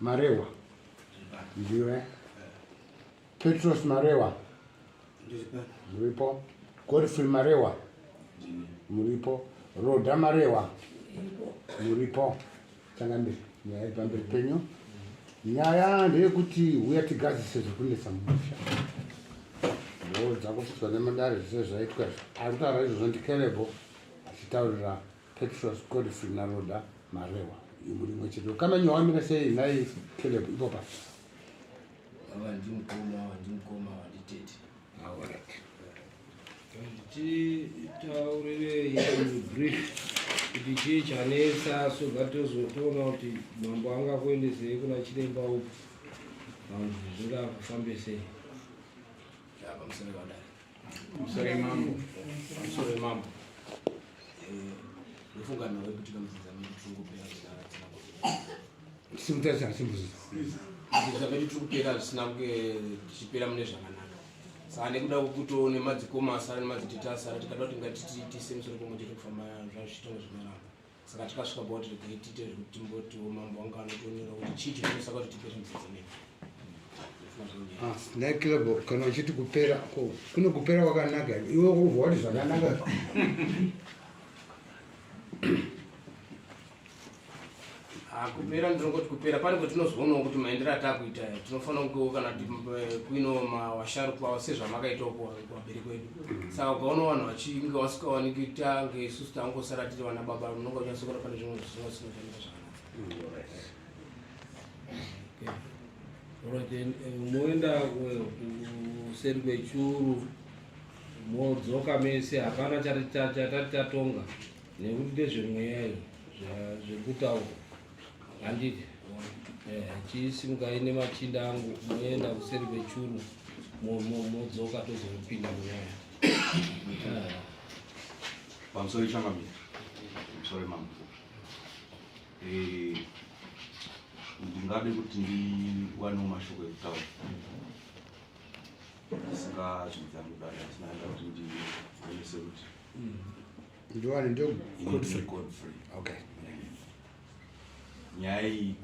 Marewa. Ndiwe. Petros Marewa. Muripo. Godfrey Marewa. Muripo. Roda Marewa. Muripo. Tanga mberi. Nyaya iri pamberi penyu. Nyaya ndeyekuti huya tigadzise zviri kunetsa mumusha. Ndoo dzakupfutswa nemandare zvese zvaitwa izvi. Ari kutaura izvozvo ndikerebo achitaurira Petros Godfrey naRhoda Marewa imuri imwe chete kana nyowa amira sei nhai Caleb ipopa ava ndimukoma ava ndimukoma ava nditete alright titaurire brief kuti chii chanetsa so that tozotoona kuti mambo anga kuendesei kuna chiremba uku zvinga kufambe sei pamusana padai I'm sorry mambo. I'm sorry mambo. Eh, ndofunga nawe kuti kamuzidza medu tiri kupera zvidara tina kuti. Simutarisana simuzidza. Kuzidza medu tiri kupera zvisina tichipera mune zvakanaka. Saka nekuda kwekuto nemadzikoma asara nemadzitete asara tikada kuti ngatitise musoro pamwe chete kufamba zvazvitonga zvinoramba. saka tikasvika pakuti regai tiite zvekuti timbotiwo mambo vanga vanotonyora kuti chii chinoisa kuti tipe zvinhu zvedzinei ah, nekilebo kana uchiti kupera ko kune kupera kwakanaka iwe kubva wati zvakanaka ah, kupera ndinongoti kupera pane kwatinozoonawo kuti maendero atakuita tinofanira kungewo kana eh, kuino mawasharukwa sezvamakaitawo kuvabereki wedu saka ukaona vanhu vachinge vasikawaniki kuti ange isusu tangosara tiri vana baba unonga uchasokola pane zvimwe zvisina zvinoshandira zvakanaka moenda kuseri kwechuru modzoka mese hapana chatati tatonga nekuti ndezvemweya iyo zvekutaura Handiti eh, chisimukai nemachinda angu moenda kuseri kwechuru modzoka tozopinda munyaya eh. pamusoro ichamamira pamusoro mambo eh, ndingade kuti ndiwanewo mashoko ekutaura singazvidzangu dada sinaenda kuti ndionese kuti mm. ndiwani ndio code free code free okay nyaya iyi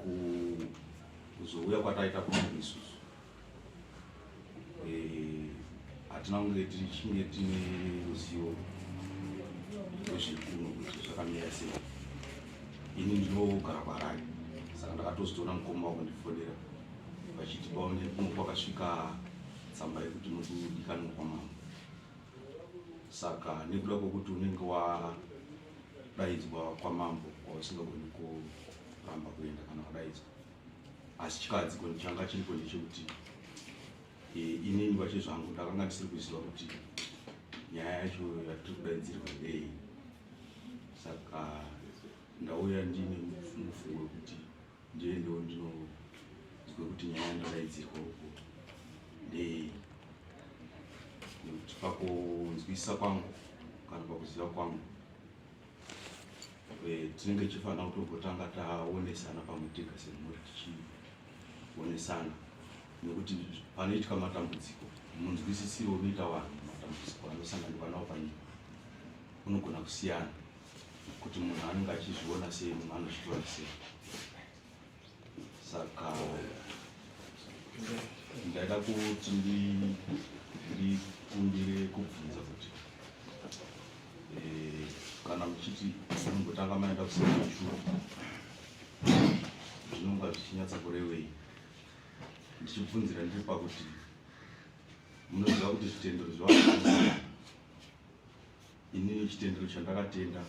kuzouya kwataita kwangu isusu eh, hatina kunge tichinge tine ruzivo rwezvekuno kuti zvakamira sei ini ndinogara kwarari saka ndakatozotoona mukoma wakundifonera vachiti paone kuno kwakasvika tsamba yekuti muri kudikanwa kwamambo saka nekuda kwekuti unenge wadaidzwa kwamambo kwausingagoni kuramba kuenda kana wadaidzwa asi chikadziko ndichanga chiripo ndechekuti e, inini kwacho zvangu ndakanga ndisiri kuziva kuti nyaya yacho yatiri kudaidzirwa ndei saka ndauya ndine mufungo wekuti ndiye ndo ndinonzwa kuti nyaya ndakaidzirwa uko ndeye nekuti pakunzwisa kwangu kana pakuziva kwangu eh, tinenge tichifanira kutogotanga taonesana pamwe tega semhuri tichionesana nekuti panoitwa matambudziko munzwisisiro unoita vanhu matambudziko anosanganikwa nawo panyika unogona kusiyana kuti munhu anenge achizviona sei munhu anozvitora sei saka ndaida kuti ndikumbire kubvunza kuti eh, kana muchiti mumbotanga maenda kusekechuru zvinonga zvichinyatsa kurevei ndichibvunzira ndiri pakuti munoziva kuti zvitendero zvevaa inini chitendero chandakatenda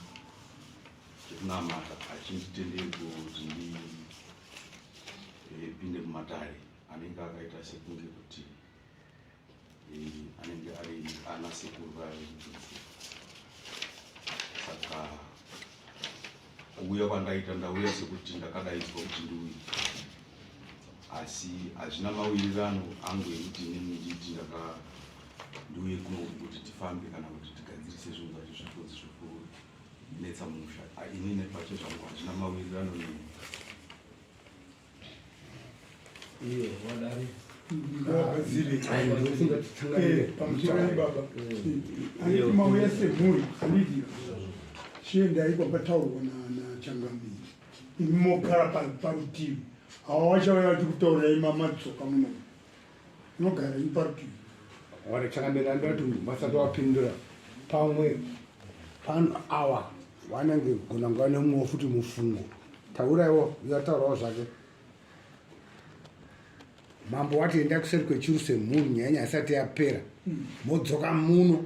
chekunamata hachinditenderi kuti ndipinde eh, mumatare anenge akaita sekunge kuti eh, anenge ari ana sekuru vaekudzidzi saka Kuuya kwandaita ndauya sekuti ndakadaidzwa kuti ndiuye, asi hazvina mawirirano angu ekuti inini nditi ndaka ndiuye kuno kuti tifambe kana kuti tigadzirise zvinhu zvacho zvifunzi zvekunetsa musha. Ini nepacho zvangu hazvina mawirirano neni. Iyo, wadari. mauya semhuri andidi chiendai kwakataurwa nachangamiri imi mogara parutivi hawa wachauya vachikutaurai mamadzoka munomu Nogara iparutivi. Wari chakamira ndati vasati wapindura pamwe pano awa wanenge gona nguva nemumwe futi mufungo tauraiwo yataurawo zvake mambo wati enda kuseri kwechiru semhuri nyaya nyaya isati yapera modzoka muno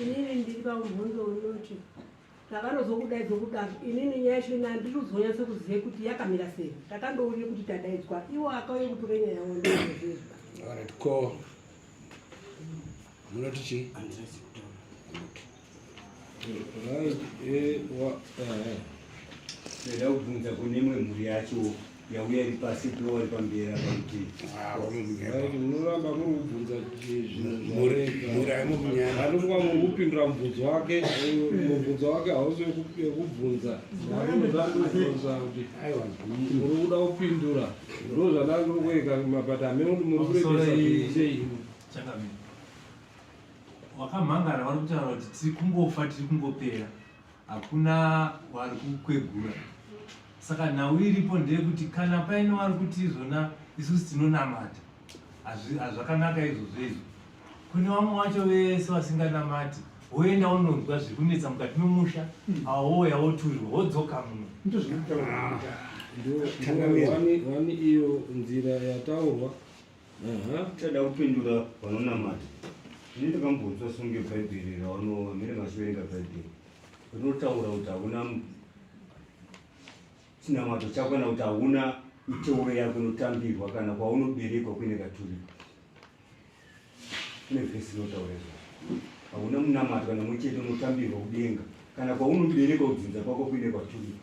inini ndiri paumhondo unoti zvakanozokudaidzo kudaro inini nyaya yacho ini handiri kuzonyatso kuziva kuti yakamira sei takandouye kuti tadaidzwa iwo akauye kutora nyaya yavo ndozvizvarit ko munoti chii eh, eh, eh. ndoda kubvunza kune imwe mhuri yacho yauya iri pasi piwa vari pamberi apa kuti munoramba ah, muri kubvunza zvinhuanomwa muri kupindura mubvunzo wake mubvunzo wake hausi wekubvunza aunozanobvunza kuti muri kuda kupindura ndo zvandange kueka mabata amene kuti muri kureesei wakamhangara vari kutaura kuti tiri kungofa tiri kungopera hakuna wari kukwegura saka nhau iripo ndeyekuti kana paine wari kuti izvona isusu tinonamata hazvakanaka izvozvo izvo kune vamwe vacho vese vasinganamati woenda unonzwa zviri kunetsa mukati memusha hmm. awo wouya woturirwa wodzoka muno ndozvinotaura iyo nzira yataurwa Chada kupindura vanonamata ini ndakambonzwa songe bhaibheri ravanova mine vachiverenga bhaibheri rinotaura kuti hauna chinamato chako kana kuti hauna miteuro yako inotambirwa kana kwaunoberekwa kuine katuriko kune vhesi inotaura izvozvo hauna munamato kana mwe chete unotambirwa kudenga kana kwaunoberekwa kudzinza kwako kuine kwaturiko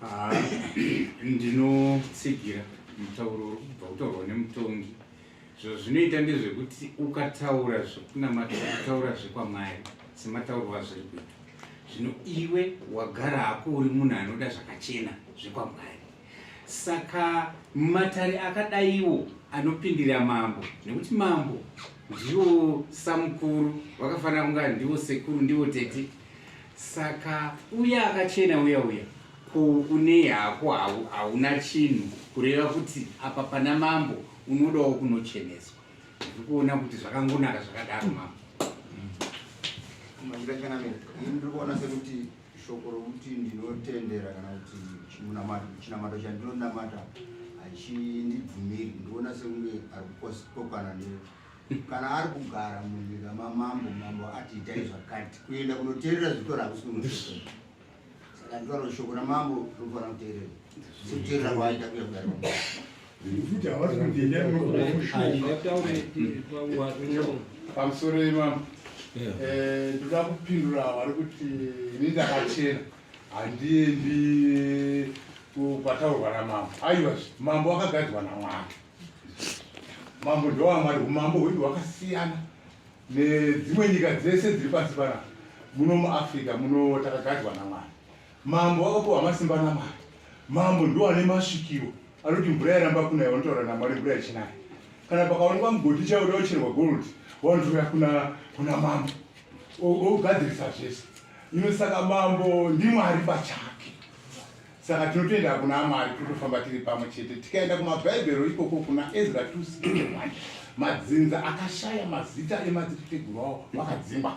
Ah, ndinotsigira mutauro uri kubva kutaurwa nemutongi zvazvinoita ndezvekuti ukataura zvekunamata ukataura zvekwamwari semataurwa azviri kuita zvino iwe wagara hako uri munhu anoda zvakachena zvekwamwari Saka matare akadaiwo anopindira mambo nekuti mambo ndiwo samukuru vakafanira kunga ndiwo sekuru ndiwo tete saka uya akachena uya uya ko une hako hauna chinhu kureva kuti apa pana mambo unodawo kunocheneswa ndiri kuona kuti zvakangonaka zvakadaro mambo Shoko rokuti ndinotendera kana kuti chinamato chinamato chandinonamata hachindibvumiri ndiona sekunge ari kukokana ne kana ari kugara munyika mamambo mambo ati itai zvakati kuenda kunoteerera zvitora hakusi kunoteerera saka nditaura shoko ramambo rinofanira kuteerera sokuteerera kwaita kuya kudari Futi hawasi kundenda pamusoro imama eh, ndoda kupindura vari kuti ini ndakachena handiendi kwataurwa namambo aiwa mambo akagadzwa namwari mambo ndowamwari umambo hwedu hwakasiyana nedzimwe nyika dzese dziri pasi panapa muno muafrica muno takagadzwa namwari Mambo vakapiwa masimba naMwari. Mambo ndiwo ane masvikiro anoti mvura yaramba kunaya vanotaura naMwari mvura yachinaya. Kana pakaonekwa mugodhi chaiwo daucherwa gold wanotora kuna kuna mambo ogadzirisa zvese. Ino saka mambo ndiMwari pachake. Saka tinotoenda kuna Mwari totofamba tiri pamwe chete. Tikaenda kumabhaibheri ikoko kuna Ezra 2:1 madzinza akashaya mazita emadziteteguru awo vakadzimba.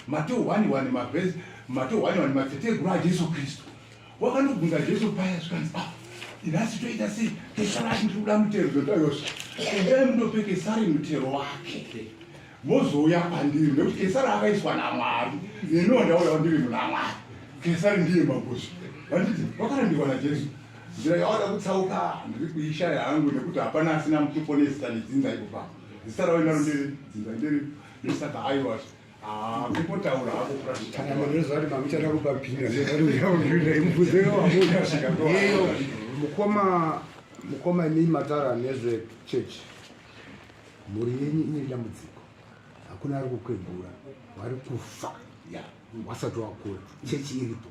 Mateo 1:1 mavhesi Mateo 1:1 madziteteguru aJesu Kristu wakanobvunza Jesu paya zvikanzi ah nhasi toita sei tesarati ndiri kuda mutero zvotoyosva endai munopeke sari mutero wake mozouya kwandiri nekuti kesari akaiswa namwari neniwo ndauya kwandiri muna mwari kesari ndiye magosi vanditi wakarambirwa najesu nzira yawada kutsauka ndiri kuishaya hangu nekuti hapana asina mutupo nezita nedzinza ikupa zita rawainaro ndiri dzinza ndiri Saka aiwazve kungotaura hako kuratidzaaizvati mamuchada kupa pina imufuzeoamuiyo mukoma mukoma imii matara nezve chechi mhuri yenyu ine dambudziko hakuna ari kukwegura wari kufa wasati wakura chechi iripo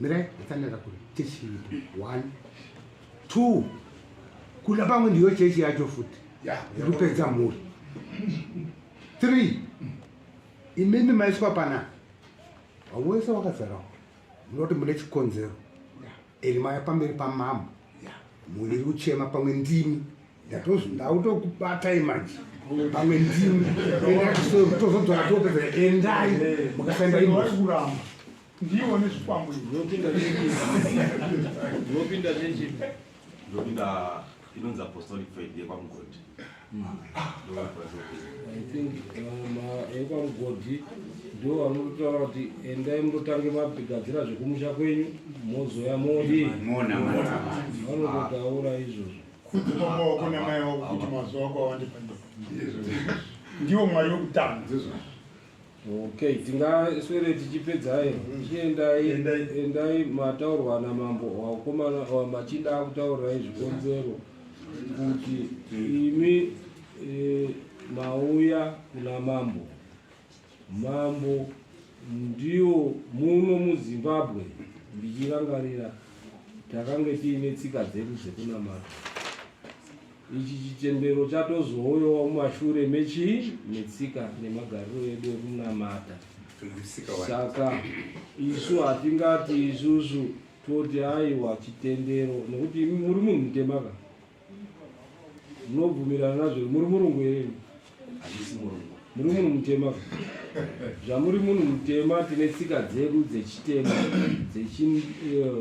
mirai atsanira kuri chechi iripo one two kuna pamwe ndiyo chechi yacho futi ikupedza mhuri three imimi maiswa pana wese wakazarawo munoti mune chikonzero eri maya pamberi pamambo mhuri iri kuchema pamwe ndimi ndatozi ndautokubatai manje pamwe ndimi tozodzora topedza endai mukasaenda imosi Ndiwo nezvikwambo ndopinda ndopinda chechi ndopinda inonzi apostolic faith yekwamugodi i think yekwamugodi um, ndo vanotaura kuti endai mutotange mabigadzira zvekumusha kwenyu mozouya modi vanototaura izvozvo kuti mamaoko namai vako kuti mazuva kwawandipandiko ndiwo mwari wekutanga Okay, tingaswere tichipedzai mm-hmm. chiendai endai mataurwa namambo wakomana wamachinda akutaurirai zvikonzero kuti imi e, mauya kuna mambo mambo ndiwo muno muzimbabwe ndichirangarira takange tiine tsika dzedu dzekunamata Ichi chitendero chatozouyawo mumashure mechii? Netsika nemagariro edu ekunamata. Saka isu hatingati isusu toti aiwa chitendero nekuti muri munhu mutemaka munobvumirana nazvo muri murungu here muri munhu mutema zvamuri munhu mutema tine tsika dzedu dzechitema eh,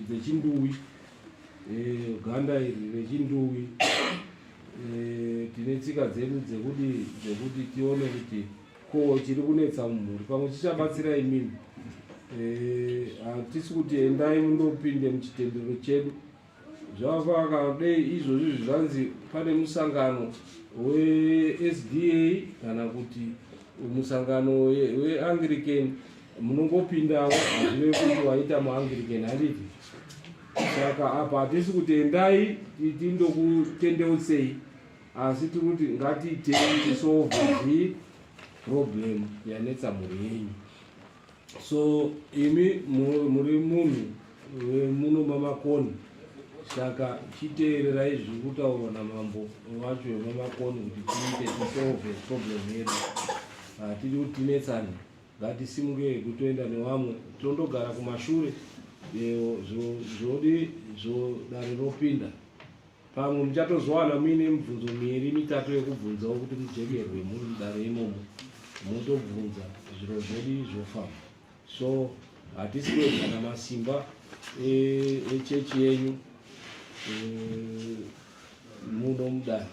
dzechinduwi Eh, ganda iri rechinduwi eh, tine tsika dzedu dzekuti dzekuti tione kuti ko chiri kunetsa mumhuri pamwe chichabatsira imimi eh, hatisi kuti endai mundopinde muchitendero chedu zvavafaka dei izvozvi zvivanzi pane musangano wesda kana kuti musangano weanglican munongopindawo hazvive kuti waita muangiriken handiti saka apa hatisi kuti endai titi ndokutendeutsei asi tiri kuti ngatiitei tisolve zi problem yanetsa mhuri yenyu so imi muri munhu muno mamakoni saka chiteererai zviri kutaurwa namambo wacho vemamakoni kuti tiite tisolve problem yedu hatidi kuti tinetsane Ngatisimuke hedu toenda nevamwe tondogara kumashure zvodi zvodare ropinda pamwe muchatozowana muine mibvunzo miiri mitatu yekubvunzawo kuti mujekerwe muri mudare imomo motobvunza zviro zvedi zvofamba so hatisi kuedza kana simba e, echechi e yenyu e, muno mudare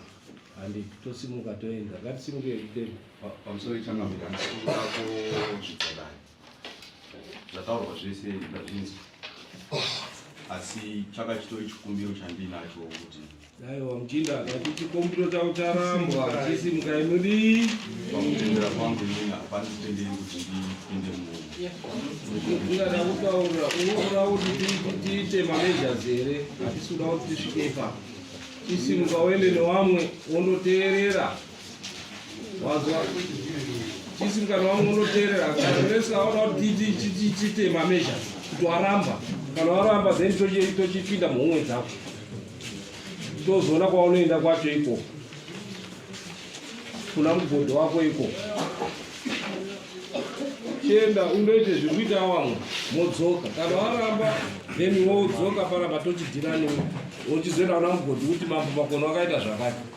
handi tosimuka toenda ngatisimuke kutenda pamusoro ichanga kuti handisikuda kuzvidzakani zvataurwa zvese ndazvinzwa asi chaka chitori chikumbiro chandiinacho kuti aiwa muchinda akati chikumbiro chavo charambwa chisi muka inodii pakutendera kwangu inini hapana kutenderi kuti ndipinde muungada kutaura unoda kuti tiite mamejas here hatisi kuda kuti tisvike ipapo chisimuka uende newamwe wondoteerera wazwa chisi mukana wangu unoteerera kanonese aona kuti tiite mamezha kuti waramba kana waramba then tochipinda muhomwe dzako tozoona kwaunoenda kwacho ikoko kuna mugodho wako ikoko chienda unoite zviri kuita wamwe modzoka kana waramba then wodzoka paramba tochidhira newe wochizoenda kuna mugodhi kuti mambo makona wakaita zvakati